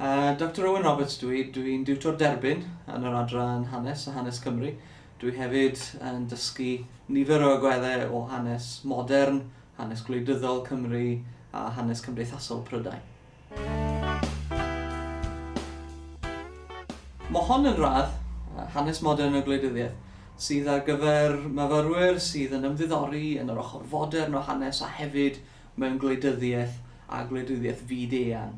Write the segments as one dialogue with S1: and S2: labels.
S1: Uh, Doctor Owen Roberts dw i, dw i'n diwtor derbyn yn yr adran hanes a hanes Cymru. Dw i hefyd yn dysgu nifer o agweddau o hanes modern, hanes gwleidyddol Cymru a hanes cymdeithasol Prydain. Mae hon yn radd, hanes modern y gwleidyddiaeth, sydd ar gyfer myfyrwyr sydd yn ymddiddori yn yr ochr fodern o hanes a hefyd mewn gwleidyddiaeth a gwleidyddiaeth fyd-eang.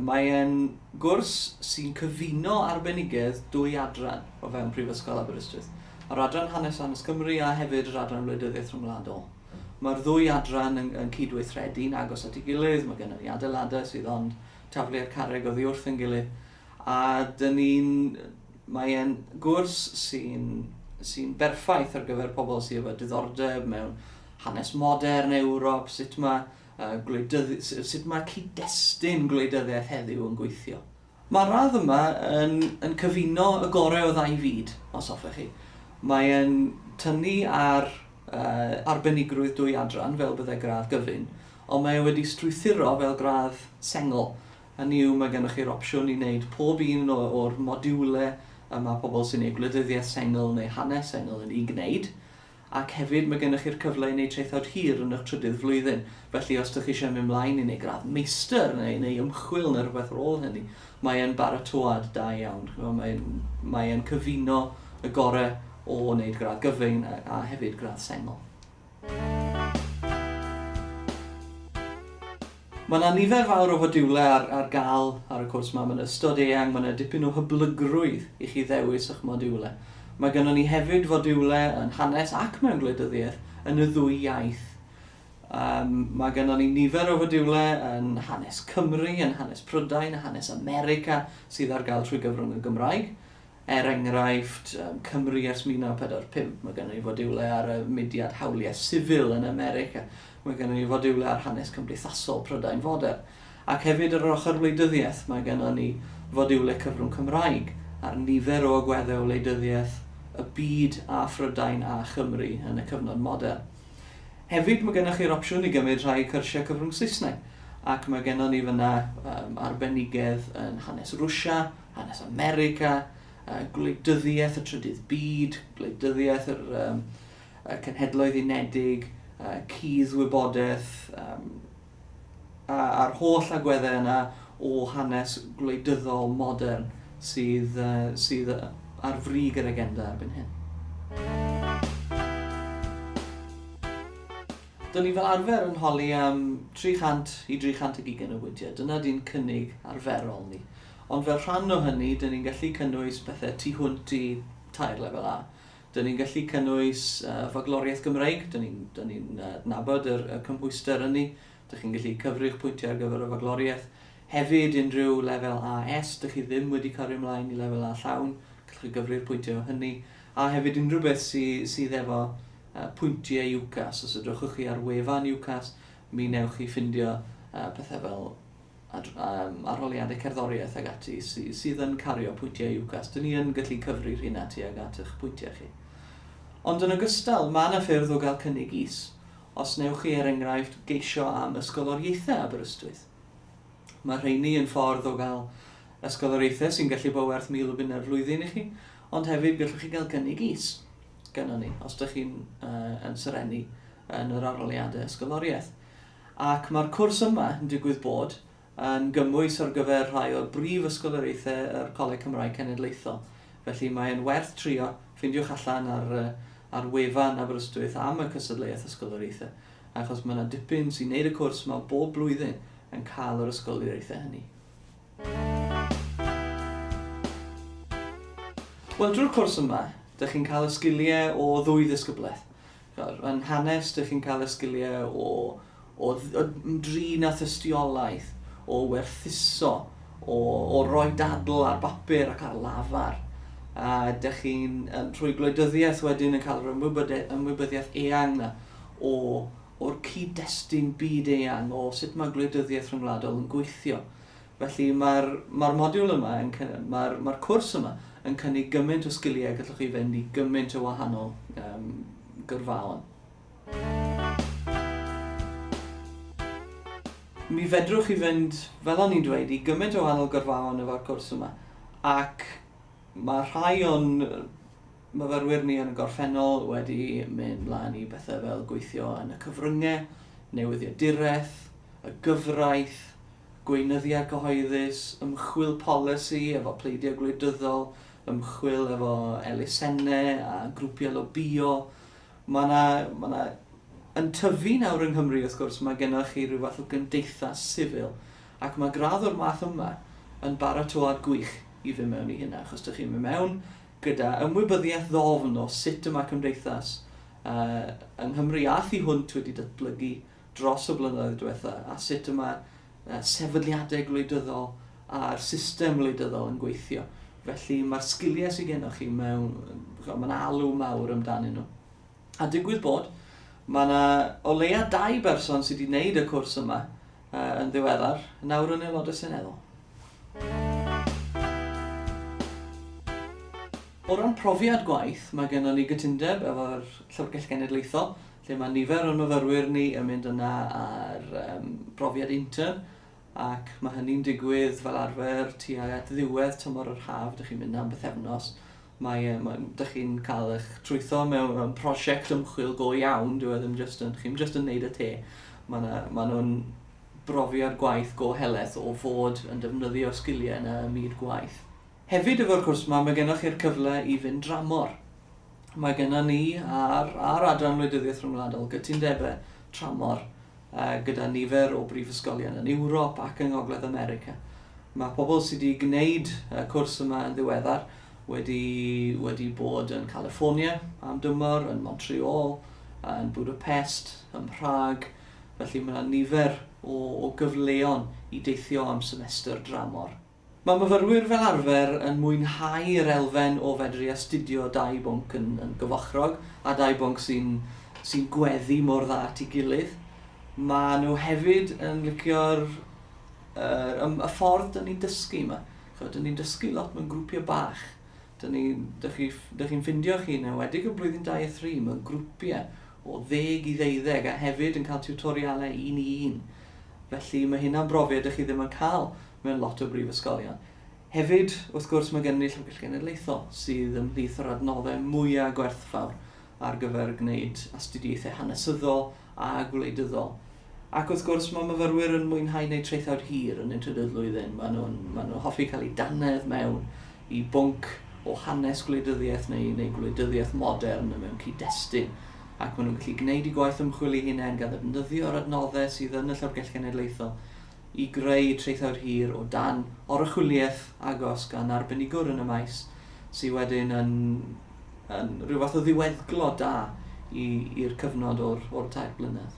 S1: Mae e'n gwrs sy'n cyfuno arbenigedd dwy adran o fewn Prifysgol Aberystwyth, yr Adran Hanes Hanes Cymru a hefyd yr Adran Wleidyddiaeth Rhyngwladol. Mae'r ddwy adran yn, yn cydweithredu'n agos at ei gilydd, mae gennym ni adeiladau sydd ond taflu i'r carreg oddi wrth yn gilydd, A dyn ni'n... mae e'n gwrs sy'n sy'n berffaith ar gyfer pobl sydd efo diddordeb mewn hanes modern Ewrop, sut mae, uh, gwleidyddi, sut mae cyd-destun gwleidyddiaeth heddiw yn gweithio. Mae'r radd yma yn, yn cyfuno y gorau o ddau fyd, os hoffech chi. Mae e'n tynnu ar uh, arbenigrwydd dwy adran fel byddai gradd gyfun, ond mae e wedi strwythuro fel gradd sengl, Hynny yw, mae gennych chi'r opsiwn i wneud pob un o'r modiwlau y mae pobl sy'n eu gwleidyddiaeth sengl neu hanes sengl yn eu gwneud, ac hefyd mae gennych chi'r cyfle i wneud traethawd hir yn eich trydydd flwyddyn. Felly, os ydych chi eisiau mynd mlaen i wneud gradd meistr neu neu ymchwil neu rhywbeth ar ôl hynny, mae e'n baratoad da iawn. Mae mae e'n cyfuno y gorau o wneud gradd gyfyng a a hefyd gradd sengl. Mae yna nifer fawr o fodiwlau ar, ar gael ar y cwrs yma. Mae'n ystod eang, mae yna dipyn o hyblygrwydd i chi ddewis eich modiwlau. Mae gennym ni hefyd fodiwlau yn hanes ac mewn gwleidyddiaeth yn y ddwy iaith. Um, mae gennym ni nifer o fodiwlau yn hanes Cymru, yn hanes Prydain, hanes America sydd ar gael trwy gyfrwng y Gymraeg. Er enghraifft, Cymru ers 1945, mae gennym ni fodiwlau ar y mudiad hawliau sifil yn America, mae gennym ni fodiwlau ar hanes cymdeithasol Prydain fodern, ac hefyd ar yr ochr wleidyddiaeth mae gennym ni fodiwlau cyfrwng Cymraeg ar nifer o agweddau o wleidyddiaeth y byd a Phrydain a Chymru yn y cyfnod modern. Hefyd mae gennych chi'r opsiwn i gymryd rhai i cyrsiau cyfrwng Saesneg ac mae gennym ni fan'na arbenigedd yn hanes Rwsia, hanes America, gwleidyddiaeth y trydydd byd, gwleidyddiaeth yr um, Cenhedloedd Unedig, cudd wybodaeth, um, a'r holl agweddau yna o hanes gwleidyddol modern sydd, uh, sydd ar frig yr agenda erbyn hyn. Dyna ni fel arfer yn holi am 300 i 320 o weithiau. Dyna di'n cynnig arferol ni. Ond fel rhan o hynny, dyn ni'n gallu cynnwys pethe tu hwnt i tair lefel A. Dyn ni'n gallu cynnwys Fagloriaeth Gymreig, dyn ni'n dyn ni'n adnabod yr y cymhwyster ynni, dych chi'n gallu cyfri'ch pwyntiau ar gyfer y Fagloriaeth. Hefyd, unrhyw lefel AS, dych chi ddim wedi cario ymlaen i lefel A llawn, gallwch chi gyfri'r pwyntiau o hynny. A hefyd, unrhyw beth sy sydd efo yy pwyntiau UCAS, os edrychwch chi ar wefan UCAS, mi newch chi ffindio yy pethe fel ar, um, arholiadau cerddoriaeth ag ati sy, sydd yn cario pwyntiau UCAS. Dyn ni yn gallu cyfri'r hyn ati ag at eich pwyntiau chi. Ond yn ogystal, mae yna ffyrdd o gael cynnig is. Os newch chi, er enghraifft, geisio am ysgoloriaethau Aberystwyth. Mae rheini yn ffordd o gael ysgoloriaethau sy'n gallu bod werth mil o bunau'r flwyddyn i chi, ond hefyd gallwch chi gael cynnig is gyda ni, os ydych chi'n uh, yn serennu yn yr arholiadau ysgoloriaeth. Ac mae'r cwrs yma yn digwydd bod yn gymwys ar gyfer rhai o brif ysgoloriaethau yr Coleg Cymraeg Cenedlaethol. Felly mae e'n werth trio, ffindiwch allan ar ar wefan Aberystwyth am y cystadleuaeth ysgoloriaethau, achos mae 'na dipyn sy'n neud y cwrs yma bob blwyddyn yn cael yr ysgoloriaethau hynny. Wel drwy'r cwrs yma, dych chi'n cael y sgiliau o ddwy ddisgyblaeth. Fel, yn hanes, dych chi'n cael y sgiliau o, o, o drin a thystiolaeth, o werthuso, o, o roi dadl ar bapur ac ar lafar. A dych chi'n, trwy gwleidyddiaeth wedyn, yn cael yr ymwybyddiaeth eang na o, o'r cyd-destun byd eang, o sut mae gwleidyddiaeth rhyngwladol yn gweithio. Felly, mae'r, mae'r modiwl yma yn cy-, mae'r, mae'r cwrs yma yn cynnig gymaint o sgiliau y gallwch chi fynd i gymaint o wahanol um, gyrfaon. Mi fedrwch chi fynd, fel o'n i'n dweud, i gymaint o wahanol gyrfaon efo'r cwrs yma. Ac mae rhai o'n myfyrwyr ni yn y gorffennol wedi mynd mlaen i bethau fel gweithio yn y cyfryngau, newyddiaduraeth, y gyfraith, Gweinyddiau cyhoeddus, ymchwil polisi efo pleidiau gwleidyddol, ymchwil efo elusennau a grwpiau lobïo. Mae 'na, mae 'na... Yn tyfu nawr yng Nghymru, wrth gwrs, mae gennych chi rhyw fath o gymdeithas sifil, ac mae gradd o'r math yma yn baratoad gwych i fynd mewn i hynna, achos dych chi'n mynd mewn gyda ymwybyddiaeth ddofn o sut y mae cymdeithas yy yng Nghymru a thu hwnt wedi datblygu dros y blynyddoedd diwetha' a sut y mae sefydliadau gwleidyddol a'r system wleidyddol yn gweithio. Felly mae'r sgiliau sydd gennych chi mewn... mae'n alw mawr amdanyn nhw. A digwydd bod, mae yna o leia dau berson sydd wedi gwneud y cwrs yma yn ddiweddar, nawr yn Aelodau Seneddol. O ran profiad gwaith, mae gennym ni gytundeb efo'r Llyfrgell Genedlaethol lle mae nifer o'n myfyrwyr ni yn mynd yna ar um, brofiad intern, ac mae hynny'n digwydd fel arfer tua at ddiwedd tymor yr haf, dych chi'n mynd am bythefnos, mae, um, mae, dych chi'n cael eich trwytho mewn, mewn prosiect ymchwil go iawn, dwi e ddim just yn, chi'n just yn neud y te. Mae nhw'n ma nhw brofiad gwaith go heleth o fod yn defnyddio sgiliau yna ym myd gwaith. Hefyd efo'r cwrs 'ma mae gennoch chi'r cyfle i fynd dramor. Mae gennon ni ar ar adran wleidyddiaeth rhyngwladol gytundebau tramor yy gyda nifer o brifysgolion yn Ewrop ac yng Ngogledd America. Mae pobl sydd wedi gwneud y cwrs yma yn ddiweddar wedi wedi bod yn California am dymor, yn Montreal, yn Budapest, ym Mhrâg, felly mae 'na nifer o o gyfleon i deithio am semester dramor. Mae myfyrwyr fel arfer yn mwynhau yr elfen o fedru astudio dau bwnc yn yn gyfochrog, a dau bwnc sy'n sy'n gweddu mor dda at ei gilydd. Maen nhw hefyd yn licio'r yr ym- y ffordd 'dyn ni'n dysgu 'ma. Ch'mod 'dyn ni'n dysgu lot mewn grwpiau bach. 'Dyn ni... dych chi ff- dych chi'n ffeindio chi, yn enwedig yn blwyddyn dau a thri, mewn grwpiau o ddeg i ddeuddeg a hefyd yn cael tiwtorialau un i un. Felly, mae hynna'n brofiad dych chi ddim yn cael mewn lot o brifysgolion. Hefyd, wrth gwrs, mae gennym ni Llyfrgell Genedlaethol, sydd ymhlith yr adnoddau mwyaf gwerthfawr ar gyfer gwneud astudiaethau hanesyddol a gwleidyddol. Ac wrth gwrs, mae myfyrwyr yn mwynhau gwneud traethawd hir yn y trydydd flwyddyn. Maen nhw'n maen nhw hoffi cael eu dannedd mewn i bwnc o hanes gwleidyddiaeth neu, neu gwleidyddiaeth modern yn mewn cyd-destun. Ac maen nhw'n gallu gwneud i gwaith ymchwil eu hunain gan ddefnyddio'r adnoddau sydd yn y Llyfrgell Genedlaethol i greu traethawd hir o dan oruchwyliaeth agos gan arbenigwr yn y maes, sydd wedyn yn, yn rhyw fath o ddiweddglo da i'r cyfnod o'r, o'r tair blynedd.